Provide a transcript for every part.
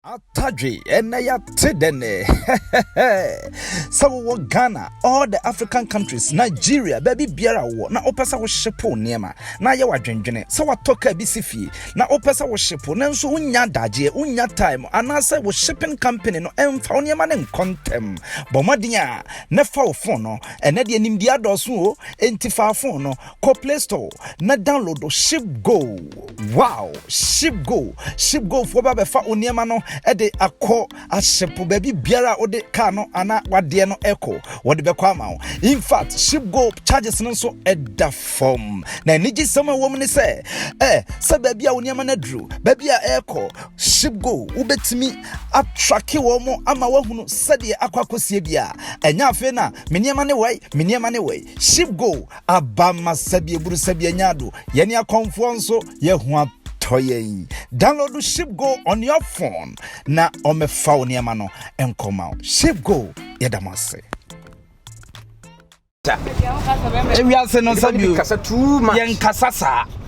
Atadwe ɛnɛ yɛate dɛnɛ sɛ wowɔ Ghana all the African countries Nigeria baabi biara wowɔ na wopɛ sɛ wohyepo nneɛma na ayɛ wadwendwene sɛ watɔ kaa bi si fie na wopɛ sɛ wohyepo nanso wonnya adagyeɛ wonnya time anaasɛ wo shipping company no ɛmfa wo nneɛma no nkɔ ntɛm bɔ mmɔden a na fa wo phone no ɛnɛ deɛ nimdeɛ adɔɔso o enti fa phone no Kɔ Play Store na download ShipGo. Wow! ShipGo. ShipGo foɔ ba bɛfa wo nneɛma no de akɔ ahyepo baabi biara a wode kaa no anaa wadeɛ no ɛkɔ. Wɔde bɛkɔ ama wo. In fact, ShipGo charges no nso ɛda fam. Na anigye sɛm a wɔm ne sɛ, ɛ sɛ baabi a wo nneɛma no aduru, baabi a ɛrekɔ, ShipGo wobɛtumi atrake wɔn ama wahunu sɛdeɛ akɔ akɔsie bi a. Ɛnyɛ afei na me nneɛma ne wei, me nneɛma ne wei. ShipGo Aba ma sɛdeɛ buru sɛdeɛ nya ado. Yɛne akɔmfoɔ nso yɛ ho atɔ yɛn. Download ship go on your phone na ɔmɛfa wo nneɛma no nkɔma wo. Ship go yɛda mo ase. Ewiase no nsa bio yɛn kasa saa.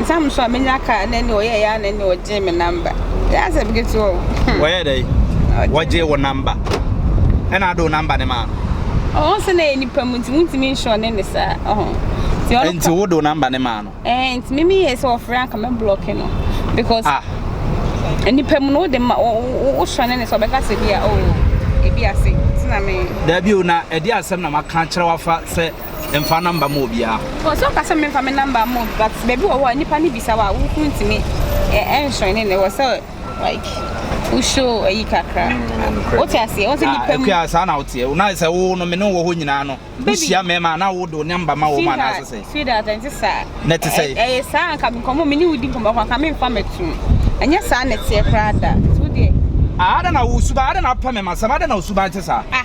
Nsɛm nso a menya kaa ne ne ɔyɛɛ ya ne ne ɔgyee me namba. Yɛ asɛm ketewa o. Hmm. Wɔyɛ dɛ. Wɔgyee wo namba. Ɛna ade wo namba ne maa no. Ɔwɔ sɛ na ɛyɛ nipa mu nti wontumi nhyɛ ɔne ne saa. Ɔho. Nti wode wo namba ne maa no. Ɛɛ nti mimi yɛ sɛ ɔfrɛ anka mɛ blɔke no. Because. Ah. Nipa mu no wode ma wohyɛ ne ne sɛ ɔbɛka sɛ bi a o. Oh, ebi ase. Tina me. Dabi o na ɛde asɛm na maka kyerɛ wafa sɛ mfa namba ma obiara. Wɔ so nka sɛ memfa me namba ma obi but baabi wɔ hɔ a nipa ne bisa wa wo kunu ntumi ɛnhyerɛn ne ne wɔ sɛ like wo show ayi kakra. Mm, Wote aseɛ wo sɛ nipa mu. Akua saa na woteɛ na sɛ wo no me ne wɔ hɔ nyinaa no wohyia mmarima na wode wo namba ma wɔn anaasɛ sɛ. Sweetheart ɛnte saa. Na ɛte sɛ. Ɛyɛ saa nka nkɔmmɔ me ne wo di nkɔmmɔ kora nka memfa mɛtom. Ɛnyɛ saa na ɛteɛ koraa da. Ada na wo suban ada na apɛ me ma sɛm ada na wo suban te saa. Ah.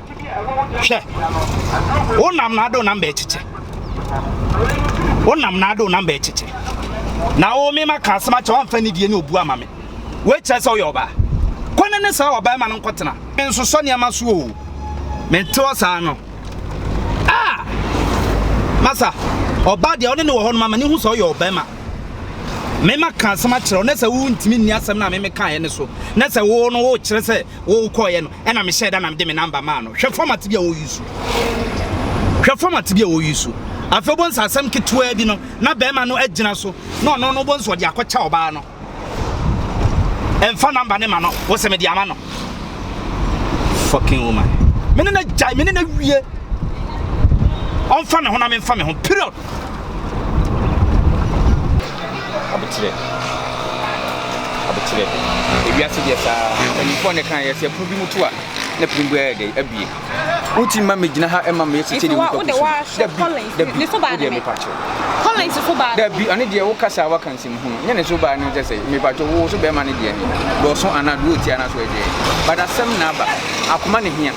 hwɛ wo nam na ade wo nam bɛɛkyekye wo nam na ade wo nam bɛɛkyekye na wo mema ka asɛm akyɛ wamfa nidie ne obu ama me woakyerɛ sɛ woyɛ ɔbaa kɔ ne ne saa ɔbaa ma no nkɔtena nsosɔ nneɛma so o menteɔ saa no a masa ɔbaa deɛ ɔne ne wɔ hɔ no mama ne hu sɛ ɔyɛ ɔbɛma mema ka asɛm akyerɛ wo na sɛ wontumi nni asɛm no a meme kaeɛ no so na sɛ wo no wokyerɛ sɛ wokɔeɛ no ɛna me hyɛɛ da na me de me number maa no hwɛ format bi a wɔ use hwɛ format bi a wɔ use afei wobɔ nsa asɛm ketewaa bi no na bɛrima no agyina so na ɔno no wobɔ nsa ɔde akɔkyɛ ɔbaa no ɛmfa number ne ma no wɔ sɛ mede ama no fucking woman mene na gyae mene na wie ɔmfa ne ho na memfa me ho period Abotire, abotire, ewiase deɛ saa mpanyinfoɔ ne kan yɛ sɛ pono bi mu to a na pono bi ayɛ dɛ abie. Woti ma mi gyina ha ɛma mi esi kyɛde wotɔ kusu. Dabi, dabi, o deɛ mi pa kyɛw. Collins so baa. Dabi, ɔne deɛ wo kasa waka nsɛm hunu. Nyɛ ne so baa ne kyɛ sɛ mi pa kyɛw wo so bɛrima ne deɛ ni. Dɔɔso anaa do oti anaa so ɛdeɛ. Badasɛm na aba. Akoma ne hia.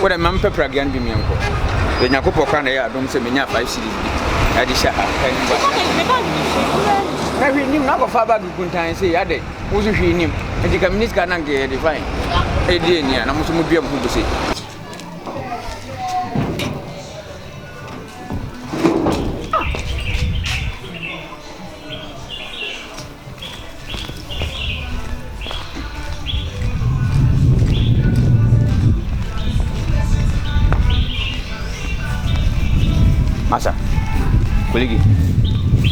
Wo dɛ mempɛ pragea no bi menkɔ. Yɛ Nyankopɔ koraa na ɛyɛ adom sɛ menyaa five cedis bi ɛde hyɛ ha ɛne bag no mu. Me bag no hwee koraa nim. Na hwee nim na akɔfa bag kuntan sei adɛn wo so hwee nim nti ka menni sika na nka yɛde fine ɛdi ani a na mo so modua mo ho bu sei. Masa, kolege,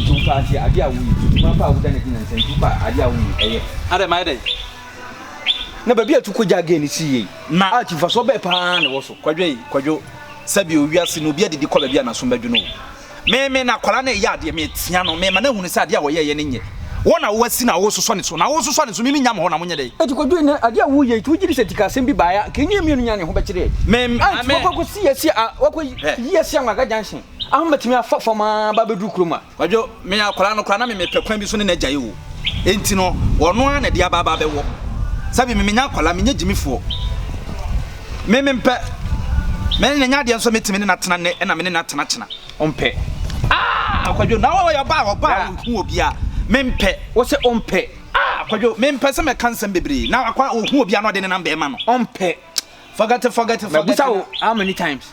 tu pa ase ade a woyi, ma pa a woda na gyina nsɛm, tu pa ade a woyi ɛyɛ. Adɛ ma ɛdɛ. Na baabi a tu kogya gɛn ne si yie. Na a kyimfasoɔ bɛɛ paa na ɛwɔ so. Kwadwo yi, kwadwo, sɛbi o wiase no obi adidi kɔ baabi a n'asom bɛdwo no o. Me me na akwadaa no reyɛ adeɛ meretea no mema no ahunu sɛ adeɛ a ɔyɛeɛ no nyɛ wo na woasi na woresosɔ ne so na woresosɔ ne so me menya mo hɔ na monyɛ dɛn. Enti kɔdwiri na adeɛ a woreyɛ yi nti wogye di sɛ nti ka asɛm bi baeɛ a nka ɛnyɛ yɛn mmienu nyinaa na yɛn ho bɛkyere yɛn Me me a nti me. wakɔ akɔsi asi a wakɔ yi Hwɛ. yi asi Anwaga junction ahom bɛtumi afa fam a aba abɛduru kurom a. Kwadwo, me akwadaa no koraa na me mepɛ kwan bi so ne no agyae o enti no ɔno ara na ɛde aba aba abɛwɔ sɛbi me menya akwadaa menyɛ gyimifoɔ. Me mempɛ. Me ne no nyɛ adeɛ nso metumi ne no atena nnɛ na me ne no atena kyena. Ɔmpɛ. Ah! Kwadwo, na ɔyɛ ɔbaa a ɔbaa a ɔhu obiara. Mempɛ. Wo se ɔmpɛ. Ah! Kwadwo, mempɛ sɛ mɛka nsɛm bebree. Na akwa a ɔhu obiara na ɔde nenam bɛrima no. Ɔmpɛ. Forget it, forget it, forget it. Mabusa wo how many times?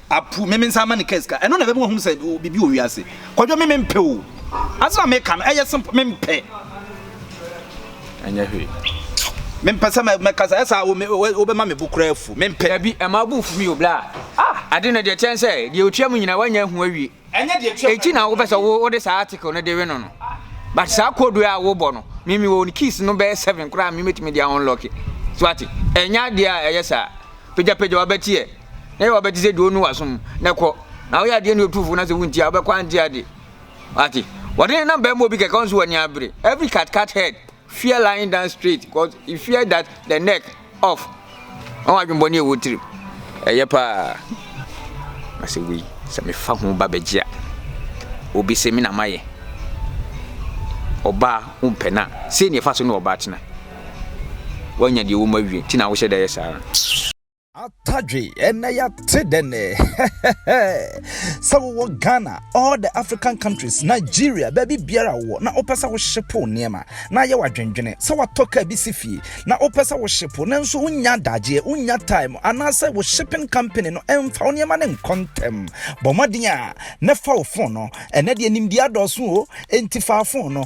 Apu, me mensan ma ne car sika. Ɛno na ɛbɛma wahunu sɛ biribi wɔ wiase. Kwadwo, me mempɛ o. Asɛm a meka no, ɛyɛ simple, mempɛ. Ɛnyɛ hwee. Mempɛ sɛ mɛka sɛ ɛsɛ a wobɛma me bo koraa afu. Mempɛ. Dabi, ɛma wo bo mfu bio, bla. Ah! Ade no deɛ ɛkyɛn sɛ deɛ ɔtwa mu nyinaa, woanya ahu awie. Enti na wopɛ sɛ wo wode saa article no de we no no. But saa code a wobɔ no, me me wɔ ne keys no bɛyɛ seven koraa a me metumi de unlock. So ate? Ɛnyɛ adeɛ a ɛyɛ saa. Pagyapagya wabɛti ɛ. Na yɛ wabɛti sɛ deɛ ɔnu wasom na kɔ. Na woyɛ adeɛ ne ɔtufo na sɛ wonti a wobɛkɔ ante ade. Ate? Wɔde ne nam bɛma obi kɛkɛ ɔnso w'ani abere. Every cat cat head. Fear lying down straight cos you fear that the neck off ɔho adwenbɔne a ɛwɔ tirim ɛyɛ paa na sɛ wei sɛ mefa ho ba bɛgye a obi sɛ me na mayɛ ɔbaa wompɛ no a sei ne ɛfa so ne ɔbaa tena woanya deɛ wɔ mu awie nti na wohyɛ da yɛ saa Atadwe ɛnɛ yɛate dɛnɛ sɛ wowɔ Ghana all the African countries Nigeria baabi biara wɔ na wopɛ sɛ wohyepo nneɛma na ayɛ wadwendwene sɛ watɔ kaa bi si fie na wopɛ sɛ wohyepo nanso wonya adagyeɛ wonya time anaasɛ wo shipping company no ɛmfa wo nneɛma no nkɔ ntɛm bɔ mmɔden a na fa wo fon no ɛnɛ deɛ nimdeɛ adɔɔso o enti fa fon no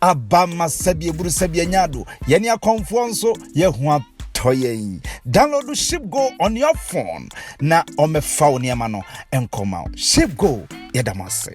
Aba ma sɛdeɛ buru sɛdeɛ nya do. Yɛne akɔmfoɔ nso yɛ ho atɔ yɛn. Download Ship Go on your phone na ɔmɛfa wo nneɛma no nkɔma wo. Ship Go yɛda mo ase.